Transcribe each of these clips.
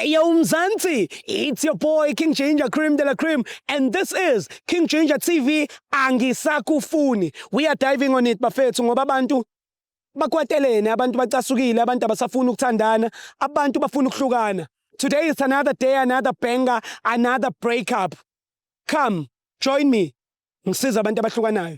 Yo, Mzansi, it's your boy King Ginger Cream de la Cream, and this is King Ginger TV. Angisakufuni. We are diving on it, bafethu, ngoba abantu bakwatelene, abantu bacasukile, abantu abasafuni ukuthandana, abantu bafuna ukuhlukana. Today is another day, another banger, another breakup. Come, join me. Ngisiza abantu abahlukanayo.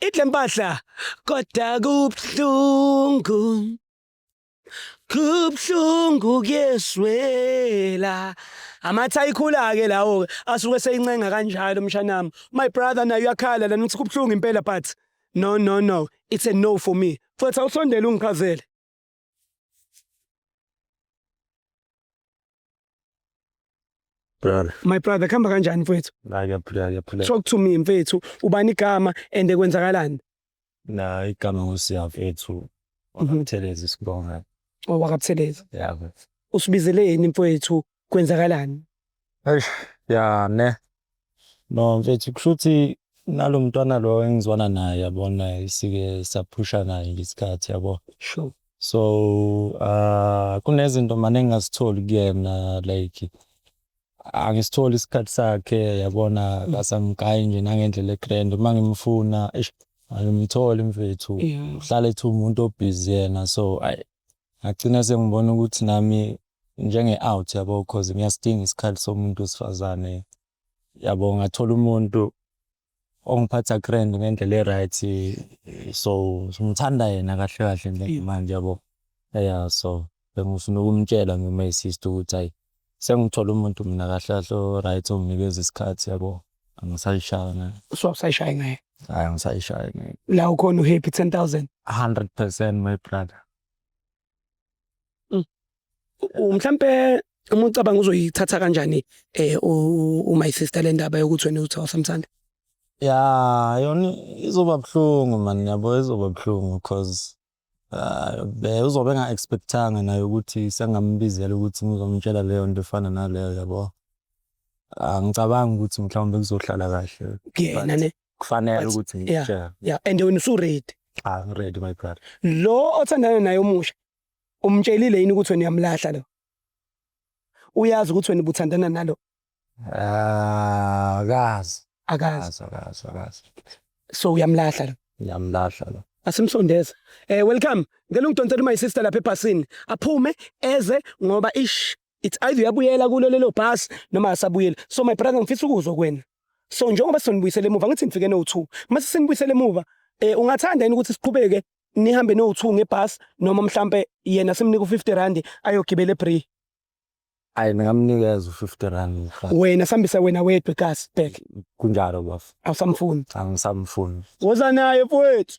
Idle mpahla kodwa kubuhlungu kubuhlungu kuyeswela amatha ayikhula-ke lawo-ke asuke seyincenga kanjalo mshanami my brother naye uyakhala lana uthi kubuhlungu impela but no no no it's a no for me mfethu awusondele ungichazele brother my brother khamba kanjani mfethu la ngiyaphila ngiyaphila talk to me mfethu ubani igama and kwenzakalani la igama ngosiya mfethu wakatheleza mhm. isibonga oh wakatheleza yeah usibizeleni mfethu kwenzakalani? Eish ya ne. No mfethu kushuthi nalo mntwana lo engizwana naye yabona isike saphusha naye ngesikhathi yabo. Sure. So uh kunezinto mane ngingazitholi kuyena like angisitholi isikhathi sakhe yabona kasamgayi nje nangendlela egrand uma ngimfuna eish angimtholi mfethu Yeah. uhlale ethi umuntu obhizi yena so ay ngagcina sengibona ukuthi nami njenge out yabo cause ngiyasidinga isikhathi somuntu wesifazane yabo ngathola umuntu ongiphatha grand ngendlela e-right so ngithanda yena kahle kahle njengimanje yabo ya so bengifuna ukumtshela noma isister ukuthi hayi sengithola umuntu mina kahle kahle o-right onginikeza isikhathi yabo angisayishaya ngayo so awusayishayi ngayo hayi angisayishayi ngayo la ukhona uhappy 10000 100 percent my brother Mm. Mhlambe uma ucabanga uzoyithatha kanjani eh u my sister le ndaba yokuthi wena uthi awusamthanda? Yeah, yona izoba buhlungu man yabo izoba buhlungu cause uh, be uzobe enga expectanga naye ukuthi sengambizela ukuthi ngizomtshela leyo nto efana naleyo yabo. Angicabangi ukuthi mhlawumbe kuzohlala kahle. Kuyena ne. kufanele But- ukuthi yeah. sure. yeah and wena usuready Ah, I'm ready my brother. lo othandana naye omusha umtshelile yini ukuthi wena uyamlahla lo uyazi ukuthi wena ubuthandana nalo Ah, kazi. akazi Kazi, kazi, kazi. so uyamlahla lo Ngiyamlahla lo. asimsondeze eh welcome ngicela ungidonsele my sister lapha ebhasini aphume eze ngoba ish it's either uyabuyela kulo lelo bus noma asabuyela so my brother ngifisa ukuzwa kuwena so njengoba sonibuyisele emuva ngithi ngifike no2 mase sinibuyisele emuva eh ungathanda yini ukuthi siqhubeke nihambe no2 ngebus noma mhlambe yena simnika u50 rand ayogibela ebree Ayi ningamnikeza u-50 rand mfana. wena sihambise wena wedwa egas back Kunjalo bafo. awusamfuni Angisamfuni. woza naye mfowethu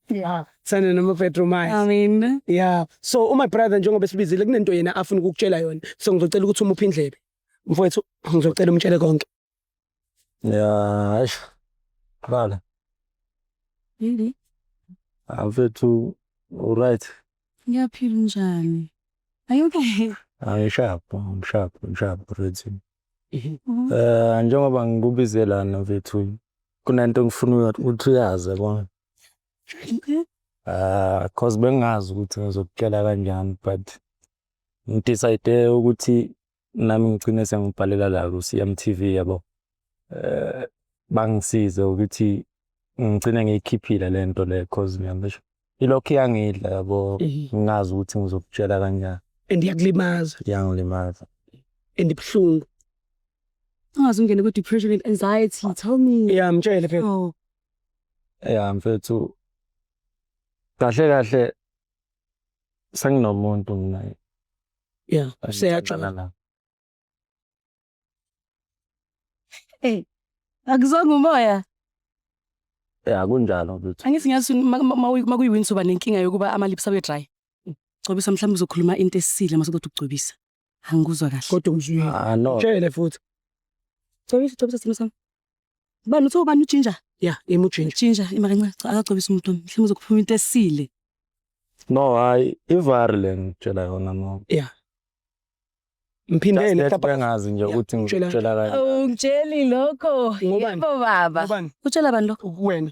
Yeah. Sana noma Petro manje. Amen. Yeah. So uma brother njengoba esibizile kunento yena afuna ukukutshela yona. So ngizocela ukuthi umuphe indlebe. Mfowethu ngizocela umtshele konke. Yeah, hash. Bala. Yini? Afethu ah, right. Ngiyaphila njani? Are you okay? I'm sharp, I'm sharp, I'm sharp already. Mhm. Mhm. Eh njengoba ngikubize lana mfethu kunento engifuna ukuthi uyazi yabona. Ah, cause bengazi ukuthi ngizokutshela kanjani but ngidecide ukuthi nami ngigcine sengibhalela la ku-CMTV yabo. Eh, bangisize ukuthi ngigcine ngiyikhiphile le nto le cause ngiyabesho ilokhu iyangidla yabo Eh, ngingazi ukuthi ngizokutshela kanjani and iyakulimaza iyangilimaza and ibuhlungu ungaze ungene kwi-depression and anxiety tell me ya mtshele phela oh ya mfethu kahle kahle senginomuntu mina ya seyaxolala hey akuzonga umoya ya kunjalo mfethu angithi ngiyazi makuyiwinsuba nenkinga yokuba amalips abe dry gcobisa mhlawumbe uzokhuluma into esile masekuthi ukugcobisa Angikuzwa kahle. Kodwa ngizwile. Ah no. Tshele futhi. Cobisa cobisa simo sami. Bani uthe ubani uginger? Yeah, yimi uginger. Ginger imakancane cha akacobisa umuntu wami. Mhlawumbe uzokuphuma into esile. No, hayi ivari le ngitshela yona no. Yeah. Mphindele lapha ngazi nje ukuthi ngitshela kahle. Ungitsheli lokho. Ngobani? Yebo baba. Ngobani? Utshela bani lokho? Kuwena.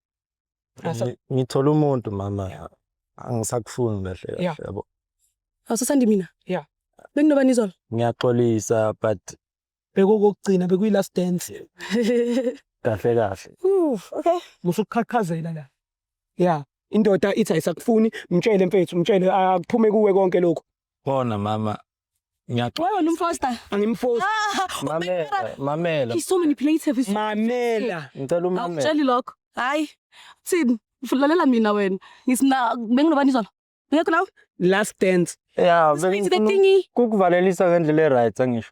Ngi- ngithola umuntu mama angisakufuni kahle kahle Yeah. yabo awusasandi mina Yeah. benginobani izolo ngiyaxolisa but bekokokugcina bekuyi-last dance kahle kahle Ooh, okay musukuqhaqhazela la ya indoda ithi ayisakufuni mtshele mfethu mtshele akuphume kuwe konke lokhu Khona mama. Ngiyaxola. Wena umfosta. Angimfosta. Ah, mamela, mamela. He's so manipulative. He's mamela. Ngicela umamela. Awutsheli lokho. Hayi. Thini? Ufulalela mina wena. Ngisina benginobani izolo? Ngekho nawe? Last dance. Yeah, bengikuvalelisa ngendlela e-right angisho.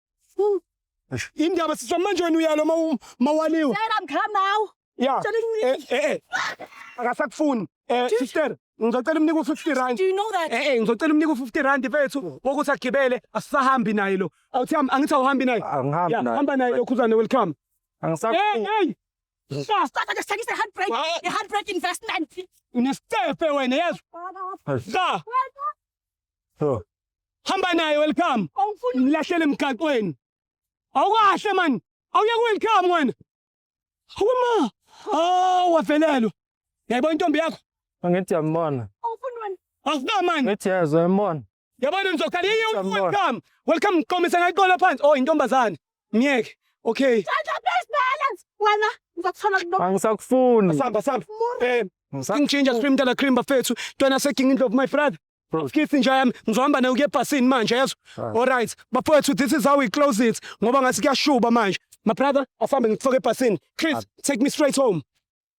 Indaba siswa manje wena uyalo mawaliwa. Sera mkham nawo. Ya. Eh eh. eh. Akasakufuni. Eh sister ngizocela umnika u-50 rand. Do you know that? Eh eh ngizocela umnika u-50 rand mfethu wokuthi agibele asisahambi naye lo. Awuthi angithi awuhambi naye. Angihambi naye. Hamba naye lokhuzane welcome. Angisakufuni. Hey hey. Yeah, start like study the handbrake, the handbrake investment. Unestepe wena yazi. Za. Oh. Hamba naye welcome. Awufuni mlahlele emgaqweni. Awukahle man. Awuye welcome wena. Awuma. Ah wavelelwa. Yayibona intombi yakho? Angithi yambona. Awufuni wena. Awufuna man. Ngithi yazwa yambona. Yabona ngizokhala yiyo welcome. Welcome qomisa ngayiqola phansi. Oh intombazane. Ngeke. Okay. Thatha best balance wena ngizokuthola kulo. Angisakufuni. Samba samba. Eh. King Ginger Supreme Tala Cream bafethu. Ntwana se King Indlovu my brother. Skith nje yami ngizohamba nayo kuyebhasini manje yazo. All right. Bafethu this is how we close it ngoba ngathi kuyashuba manje. My brother asambe ngikufake ebhasini. Chris take me straight home.